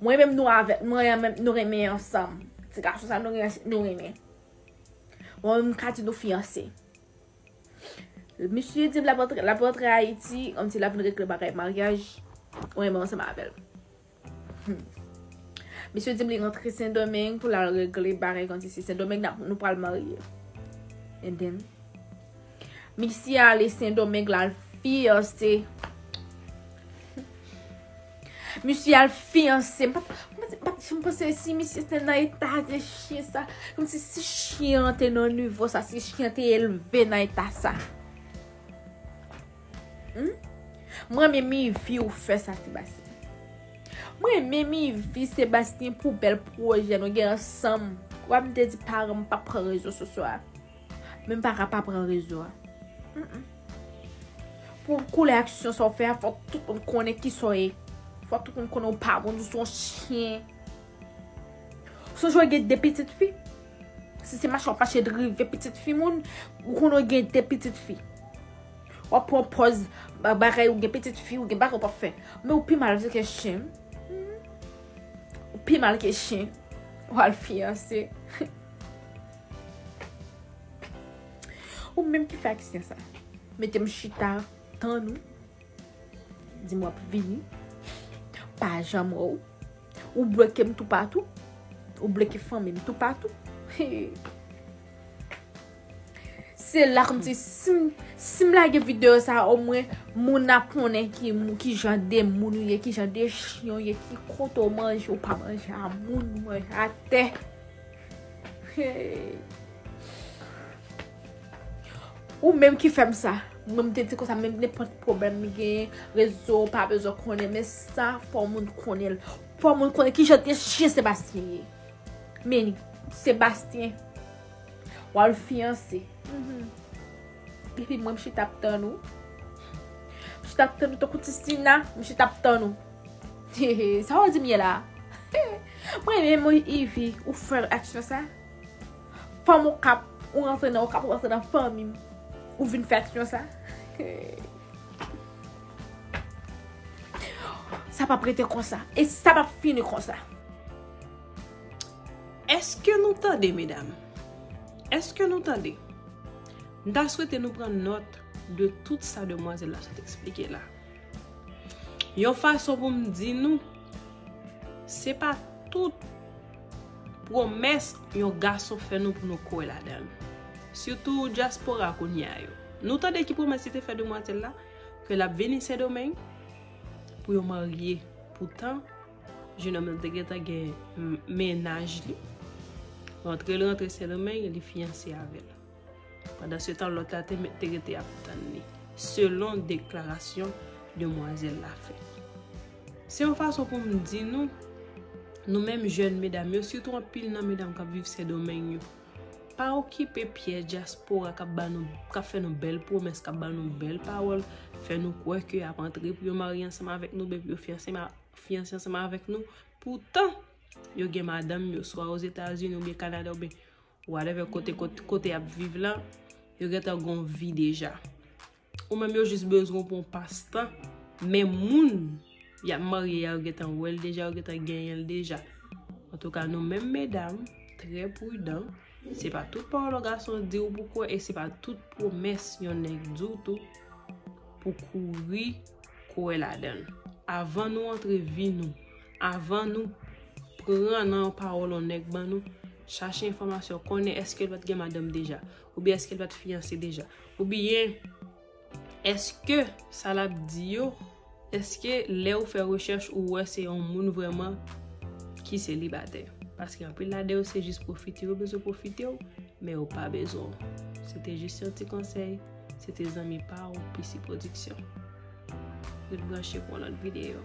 Mwen menm nou avèk mwen an menm nou renmen ansanm. Ti gason sa nou gen nou renmen. Mwen menm ka di nou fiyanse. Misye di la prantre Ayiti, an ti la vin regle bagay maryaj, mwen menm ansanm avèl. Misye di li rantre sendomeng pou la regle bagay an ti se sendomeng nou pral marye. And then. Misye ale sendomeng la al fiyanse. Misye al fiyanse. M pat janm panse si misye te nan eta de chyen sa. Kom si si chyen an te nan nivo sa. Si chyen an te elve nan eta sa. M renmen mivi ou fè sa Sébastien. M renmen mivi Sébastien pou bèl pwojè nou gen ansanm. Wap m te di paran m pa pran rezo sosyo a. Men m paka pa pran rezo a. Pou w koule aksyon sa w fè a, fòk tout moun konnen ki sa w ye. Fòk tout moun konnen w pa bon, ou son chyen. Sonje w gen de pitit fi. Si se mache w ap mache drive pitit fi moun, ou konnen w gen de pitit fi. W ap pran pòz bagay ou gen pitit fi, ou gen bagay ou pa fè. Men ou pi mal ke chyen. Ou pi mal ke chyen. Ou al fiyanse. Ou menm ki fè aksyon sa. Metem chita tann ou. Di m wap vini. Pa janm wè ou. Ou bloke m toupatou. Ou bloke fanmi m toupatou. Se la kòm si si m lage video sa o mwen moun ap konnen ki moun ki jan de moun ou ye, ki jan de chyon ou ye, ki kote ou manje ou pa manje a moun ou manje a tè. Ou menm ki fèm sa. Mwen mwen te di konsa menm ne pot problem mi gen. Rezo pa bezon konnen. Men sa fò moun konnen. Fò moun konnen ki jante chien Sébastien ye. Men Sébastien. Wa l fiyanse. Depi mwen mwen chita ap tann ou. Mwen chita ap tann ou tankou ti sina. Mwen chita ap tann ou. Sa wap di m ye la? Mwen renmen w Yvi, ou fè aksyon sa. Fanm okap, ou rantre nan okap, ou rantre nan fanmi m, ou vin fè aksyon sa. Sa pa p rete konsa, e sa pa p fini konsa. Eske nou tande medam? Eske nou tande? M ta swete nou pran nòt de tout sa demwazèl la sot eksplike la. Yon fason pou m di nou, se pa tout pwomès yon gason fè nou pou nou kwè ladan l. Sitou dyaspora kounye a yo. Nou tande ki pwomès li te fè demwazèl la? Ke l ap vini Sendomeng pou yo marye. Poutan, jenòm nan te gentan gen mennaj li. Rantre l rantre Sendomeng, li fiyanse avè l. Pandan se tan lòt la te rete ap tann li, selon deklarasyon demwazèl la fè. Se yon fason pou m di nou, nou menm jèn medam yo, sitou anpil nan medam k ap viv Sendomeng yo, pa okipe pyèj dyaspora k ap fè nou bèl pwomès, k ap ban nou bèl pawòl, fè nou kwè ke y ap antre pou yo marye ansanm avèk nou oubyen pou yo fiyanse ansanm avèk nou, poutan yo gen madanm yo swa Ozetazini oubyen Kanada oubyen. Whatever kote kote yap viv la, yo gentan gon vi deja. Ou menm yo jis bezwen w pou yon pas tan, men moun yap marye a yo gentan wè l deja, yo gentan genyen l deja. Antouka nou menm medam, trè prudan, se pa tout pawòl yon gason di w pou kwè, e se pa tout pwomès yon nèg di w tou pou kouri kwè ladan l. Avan nou antre vi nou, avan nou pran nan yon pawòl yon nèg ban nou, Chache enfòmasyon, konnen èske l pa t gen madanm deja, oubyen èske l pa t fiyanse deja, oubyen èske sa l ap di yo, èske lè ou fè rechèch ou wè se yon moun vrèman ki selibatè. Paske anpil lade yo se jis pwofite, yo bezwen pwofite w, men yo pa bezwen w. Se te jis yon ti konsèy, se te zanmi pa ou PC Production. Ret branche pou yon lòt videyo.